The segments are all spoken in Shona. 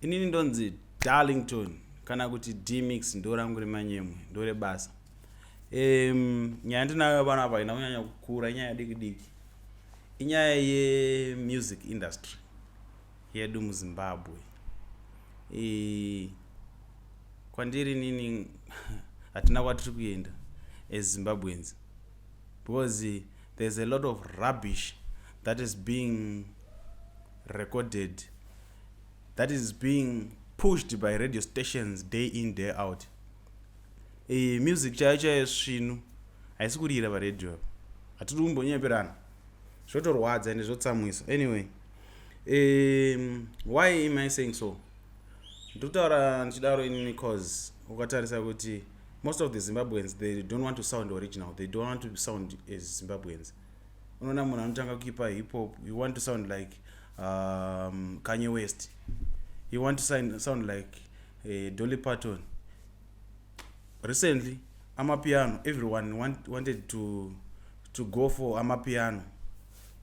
inini ndonzi darlington kana kuti dmix ndorangu remanyemwe ndorebasa um, nyaya yandinayo pano apa ina kunyanya kukura inyaya yadiki diki inyaya yemusic industry yedu muzimbabwe e, kwandiri nini hatina kwatiri kuenda as zimbabweans because there's a lot of rubbish that is being recorded that is being pushed by radio stations day in day out e, music chaiyo chaiyo svinu haisi kurira varadio avo hatidi kumbonyeperana zvotorwadza ende zvotsamwisa anyway um, why am i saying so ndikutaura ndichidaro ini because ukatarisa kuti most of the zimbabweans they don't want to sound original they don't want to sound as zimbabweans unoona munhu anotanga kuipa hip hop you want to sound like um, kanye west you want to sign, sound like uh, dolly parton recently amapiano everyone want, wanted to, to go for amapiano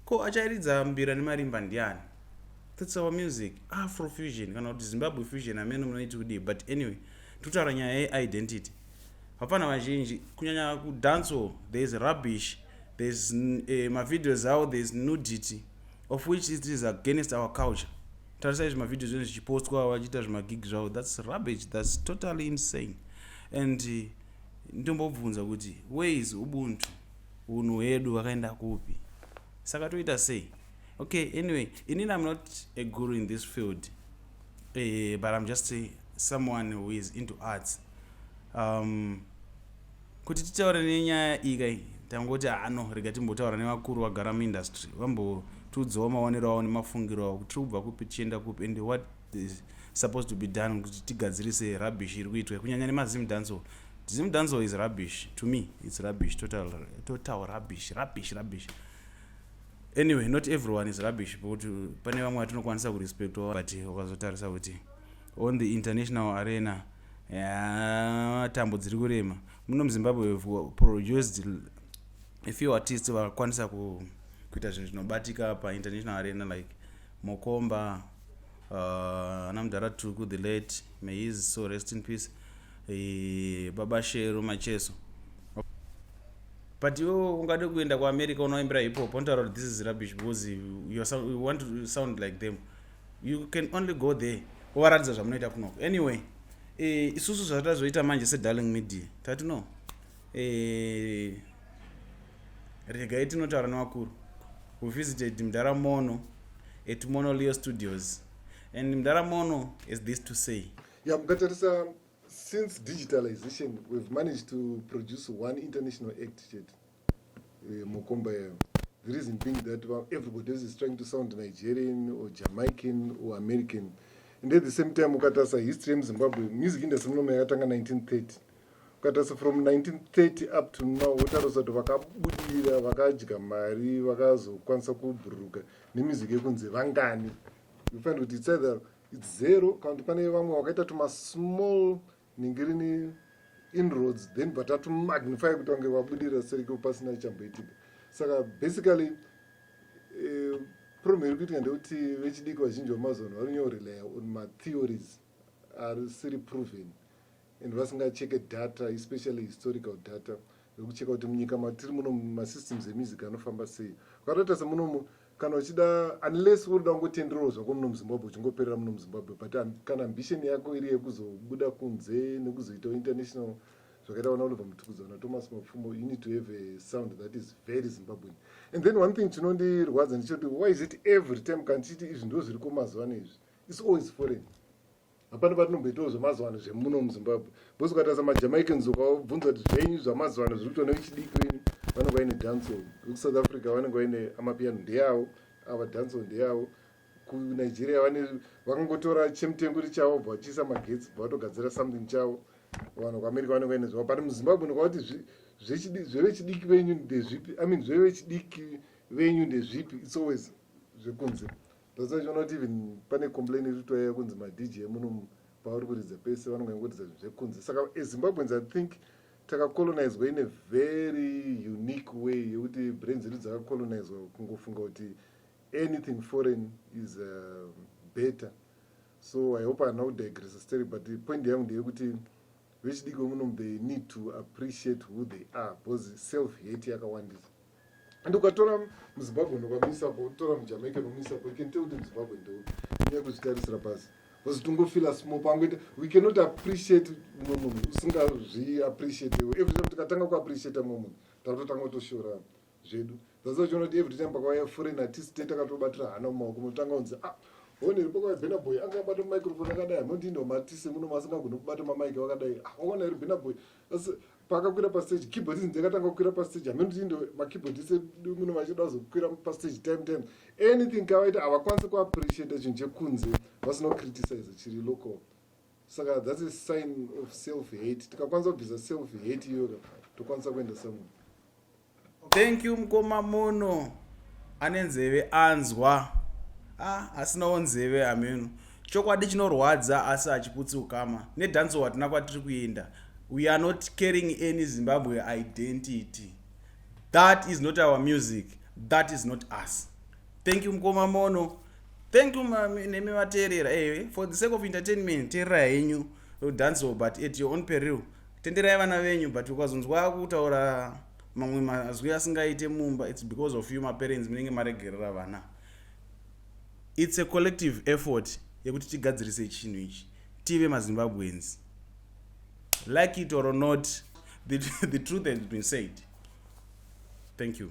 ko achairidza mbira nemarimba ndiani thats our music afro fusion kana kuti zimbabwe fusion amene munoiti kudii but anyway totaura nyaya yeidentity hapana vazhinji kunyanya kudancehall there is rubbish there is eh, mavideos awo there is nudity of which it is against our culture tarisai zvimavidio zvinhu zvichipostwa vachiita zvimagig zvavo thats rubbish thats totally insane and eh, ndombobvunza kuti where is ubuntu unhu hwedu vakaenda kupi saka toita sei okay anyway inini am not a guru in this field uh, but i'm just a, someone who is into arts um, kuti titaure nenyaya iyi kai tangoti hano ah, rega timbotaura nevakuru vagara muindustry vambotiudzawo maonero avo nemafungiro avo kuti tiri kubva kupi tichienda kupi and what is supposed to be done kuti tigadzirise rubbish iri kuitwa kunyanya nemazim danso zim danso is rubbish to me its rubbish total, total rubbish rubbish rubbish anyway not everyone is rubbish but pane vamwe vatinokwanisa kurespectwa but ukazotarisa kuti on the international arena yeah, tambo dziri kurema muno muzimbabwe we've produced a few artists vakwanisa kuita zvinhu zvinobatika painternational arena like mokomba uh, ana mudhara tuku the late mayis so rest in peace eh, baba shero macheso but iwe ungade kuenda kuamerica unoimbira hip hop unotaura kuti this is rubbish because you, you, sound, you want to sound like them you can only go there wovaratidza zvamunoita kunoko anyway eh, isusu zvatazoita manje sedarling media tati no eh, regai tinotaura nevakuru we visited mdara mono at mono leo studios and mdara mono is this to say ya mukatarisa since digitalization we've managed to produce one international act chete eh, mokomba yayo the reason being that everybody is trying to sound nigerian or jamaican or american and at the same time ukatarisa history yemuzimbabwe music industry munoma yakatanga 1930 ukatarisa from 1930 up to now wotarisa kuti vakabudira vakadya mari vakazokwanisa kubhururuka nemusic yekunze vangani you find kuti it's either it's zero kana kuti pane vamwe vakaita tumasmall ninge rini inroads then but atu magnify kuti vange vabudira seriko pasina ichamboitika saka basically eh, problem iri kuitika ndekuti vechidiki vazhinji vemazuva ano vari nyorelaya on matheories arisiri proven and vasingacheke data especially historical data vekucheka kuti munyika matiri muno masystems emusic anofamba sei ukatoita semunomu kana uchida unless uri da kungotenderawo zvako muno muzimbabwe uchingoperera muno muzimbabwe but kana ambition yako iri yekuzobuda kunze nekuzoitawo international zvakaita vana oliver mutukudzo vana thomas mapfumo you need to have a sound that is very zimbabwen and then one thing chinondirwadza ndichoti why is it every time kandichiti izvi ndo zviri komazuva ano izvi its always foreign hapana patinomboitawo zvemazuva ano zvemuno muzimbabwe bcause ukatarisa majamaicans ukabvunza kuti zvenyu zvamazuva ano zviri kuto nevechidiki venyu vanenge vaine danso vekusouth africa vanenge vaine amapiano ndeyavo ava danso ndeyavo kunigeria vane vakangotora chemutenguri chavo bva vachiisa magetsi bva vatogadzira something chavo vanhu kuamerica vanenge vaine zvavo but muzimbabwe ndokwakuti zvevechidiki venyu ndezvipi i mean zvevechidiki venyu ndezvipi its always zvekunze That's why unoona kuti even pane complain iri kutoyaiya kunzi madj emuno pavari kuridza pese vanonge ngoridza zvinhu zvekunze saka ezimbabweans i think takacolonizwa in a very unique way yekuti brain dzedu dzakacolonizwa kungofunga kuti anything foreign is uh, better so i hope ana kudigressa story but point yangu ndeyekuti vechidiki vemunomu they need to appreciate who they are because self hate yakawandisa and ukatora muzimbabwe nokamisa ko utora mujamaica nomisa ko can tell kuti muzimbabwe ndo nyaya kuzvitarisira pasi bcause tongofila small pangoita we cannot appreciate umwe munhu usingazviappreciate iwe every time tikatanga kuappreciate umwe munhu takutotanga kutoshora zvedu that's why chionoti every time pakauya foreign artist te takatobatira hana mumaoko munotanga kunzi ah honeri pakauya bena boy anga abata microphone akadai hamondini wamatise muno masingagoni kubata mamaike wakadai ah waona iri bena boy asi paakakwira pastage keyboardist ndakatanga kukwira pastage hameno kuti ndo makeyboardist edu muno vachida kuzokwira pastage time time anything kavaita havakwanisi kuappreciata chinhu chekunze vasina kucriticize chiri local saka thats a sign of self hate tikakwanisa kubvisa self hate iyoka tokwanisa kuenda somewhere Thank you mkoma Mono. Ane nzeve anzwa. Ah, asinawo nzeve hameno. Chokwadi chinorwadza asi hachiputsi ukama. Nedhanzo watina kwatiri kuenda. We are not carrying any Zimbabwe identity. That is not our music. That is not us. Thank you mkoma Mono. Thank you nemi vateerera. Eh, for the sake of entertainment, teerera henyu. Dance but at your own peril. tenderai vana venyu but ukazonzwa akutaura mamwe mazwi asingaite mumba its because of you maparents munenge maregerera vana its a collective effort yekuti tigadzirise chinhu ichi tive mazimbabwenzi like it or not the, the truth has been said thank you